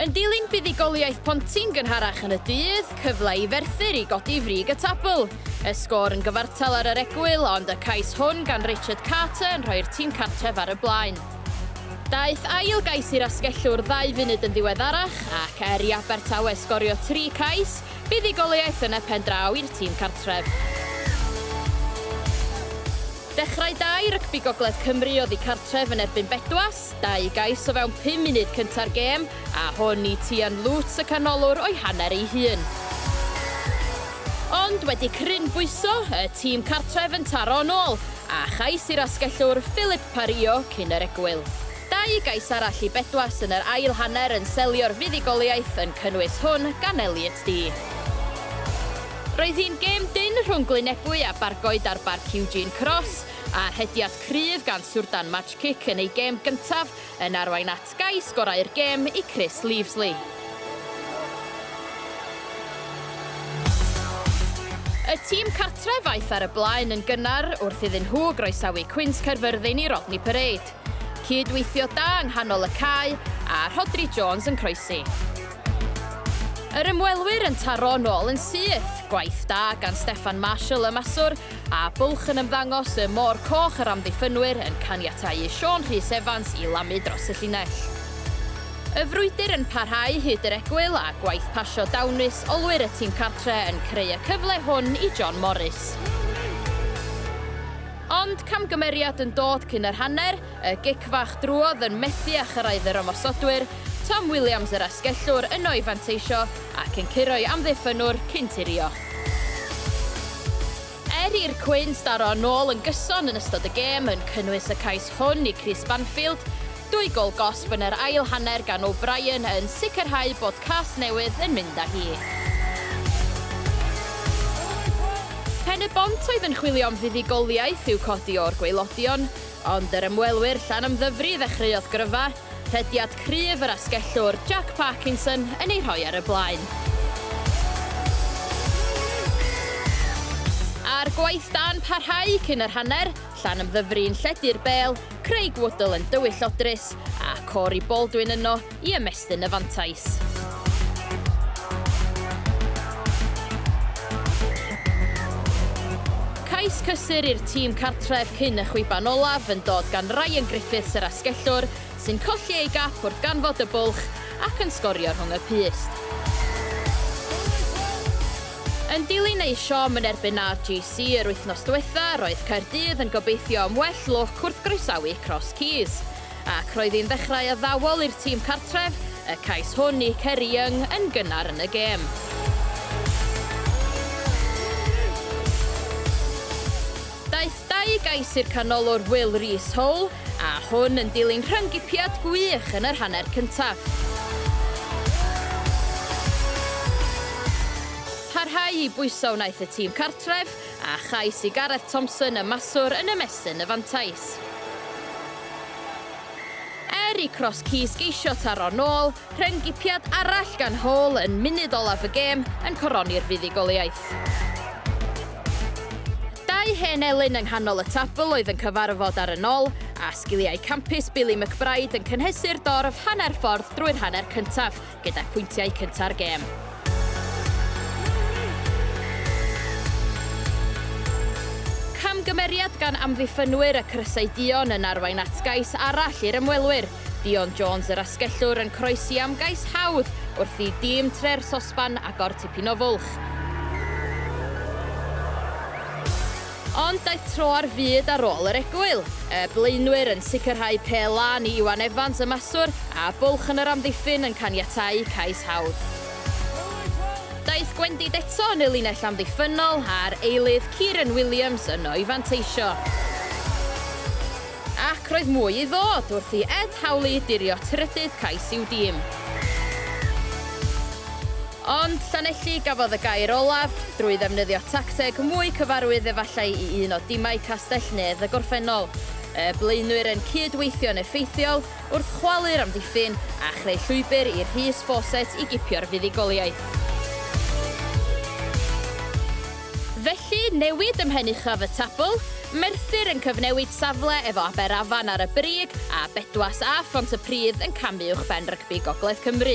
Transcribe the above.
Yn dilyn buddugoliaeth Pontyn gynharach yn y dydd, cyfle i Ferthyr i godi frig y tabl. Y sgôr yn gyfartal ar yr egwyl, ond y cais hwn gan Richard Carter yn rhoi'r tîm cartref ar y blaen. Daeth ail gais i'r asgellwr ddau funud yn ddiweddarach ac er i Abertawe sgorio tri cais, buddugoliaeth yn y pen draw i'r tîm cartref. Dechrau da i rygbi Gogledd Cymru oddi cartref yn erbyn Bedwas, dau gais o fewn pum munud cynta'r gêm, a hwn i Tian Loots y canolwr o'i hanner ei hun. Ond wedi crynbwyso, y tîm cartref yn taro'n ôl, a chais i'r asgellwr Philip pario cyn yr egwyl. Dau gais arall i Bedwas yn yr ail hanner yn selio'r fuddugoliaeth, yn cynnwys hwn gan Elliot Dee. Roedd hi'n gêm dynn rhwng Glynebwy a Bargoed ar Barc Eugene Cross, a rhediad cryf gan Surdan Majcic yn ei gêm gyntaf yn arwain at gais gorau'r gêm i Chris Leavesley. Y tîm cartref aeth ar y blaen yn gynnar wrth iddyn nhw groesawu Cwins Caerfyrddin i Rodney Parade. Cyd-weithio da yng nghanol y cae a Rhodri Jones yn croesi. Yr ymwelwyr yn taro yn ôl yn syth. Gwaith da gan Steffan Marshall y maswr, a bwlch yn ymddangos y Môr Coch yr amddiffynwyr yn caniatáu i Siôn Rhys Evans i lamu dros y llinell. Y frwydr yn parhau hyd yr egwyl a gwaith pasio dawnus olwyr y tîm cartre yn creu y cyfle hwn i John Morris. Ond camgymeriad yn dod cyn yr hanner, Y gic fach drwodd yn methu â chyrraedd yr ymosodwyr, Tom Williams yr asgellwr yno i fanteisio ac yn curo'i amddiffynnwr cyn tirio. Er i'r Quins daro yn ôl yn gyson yn ystod y gêm, yn cynnwys y cais hwn i Chris Banfield, dwy gôl gosb yn yr ail hanner gan O'Brien yn sicrhau bod Casnewydd yn mynd â hi. Pen-y-bont oedd yn chwilio am fuddugoliaeth i'w codi o'r gwaelodion, Ond yr ymwelwyr Llanymddyfri ddechreuodd gryfa, rhediad cryf yr asgellwr Jack Parkinson yn ei rhoi ar y blaen. A'r gwaith da'n parhau cyn yr hanner, Llanymddyfri yn lledu'r bêl, Craig Woodall yn dywyll o drist a Corey Baldwin yno i ymestyn y fantais. Cais cysur i'r tîm cartref cyn y chwiban olaf yn dod gan Ryan Griffiths yr asgellwr sy'n colli ei gap wrth ganfod y bwlch ac yn sgorio rhwng y pyst. Yn dilyn eu siom yn erbyn RGC yr wythnos diwetha, roedd Caerdydd yn gobeithio am well lwc wrth groesawu Cross Keys. ac roedd hi'n ddechrau addawol i'r tîm cartref, y cais hwn i Ceri Young yn gynnar yn y gêm. Daeth dau gais i'r canolwr Will Rees Hole, a hwn yn dilyn rhyng-gipiad gwych yn yr hanner cyntaf. Parhau i bwyso wnaeth y tîm cartref, a chais i Gareth Thompson y maswr yn ymestyn y fantais. Er i Cross Keys geisio taro nôl, rheng gipiad arall gan Hall yn munud olaf y gêm yn coroni'r fuddugoliaeth. Dau hen elyn yng nghanol y tabl oedd yn cyfarfod ar y nol, a sgiliau campus Billy McBride yn cynhesu'r dorf hanner ffordd drwy'r hanner cyntaf. gyda phwyntiau cynta'r gêm. Camgymeriad gan amddiffynwyr y Crysau Duon yn arwain at gais arall i'r ymwelwyr. Dion Jones yr asgellwr yn croesi am gais hawdd wrth i dîm Tre'r Sosban agor tipyn o fwlch. Ond daeth tro ar fyd ar ôl yr egwyl. Y blaenwyr yn sicrhau pêl lân i Iwan Evans y maswr, a bwlch yn yr amddiffyn yn caniatáu cais hawdd. Daeth Gwendid eto yn y linell amddiffynnol, a'r eilydd, Kieran Williams yno i fanteisio. Ac roedd mwy i ddod wrth i Ed Howley dirio trydydd cais i'w dîm. Ond, Llanelli gafodd y gair olaf, drwy ddefnyddio tacteg mwy cyfarwydd efallai i un o dimau Castell-nedd y gorffennol. Y blaenwyr yn cyd-weithio'n effeithiol wrth chwalu'r amddiffyn a chreu llwybr i Rhys Fawcett i gipio'r fuddugoliaeth. Felly, newid ym mhen uchaf y tabl, Merthyr yn cyfnewid safle efo Aberafan ar y brig a Bedwas a Phont-y-pridd yn camu uwchben rygbi Gogledd Cymru.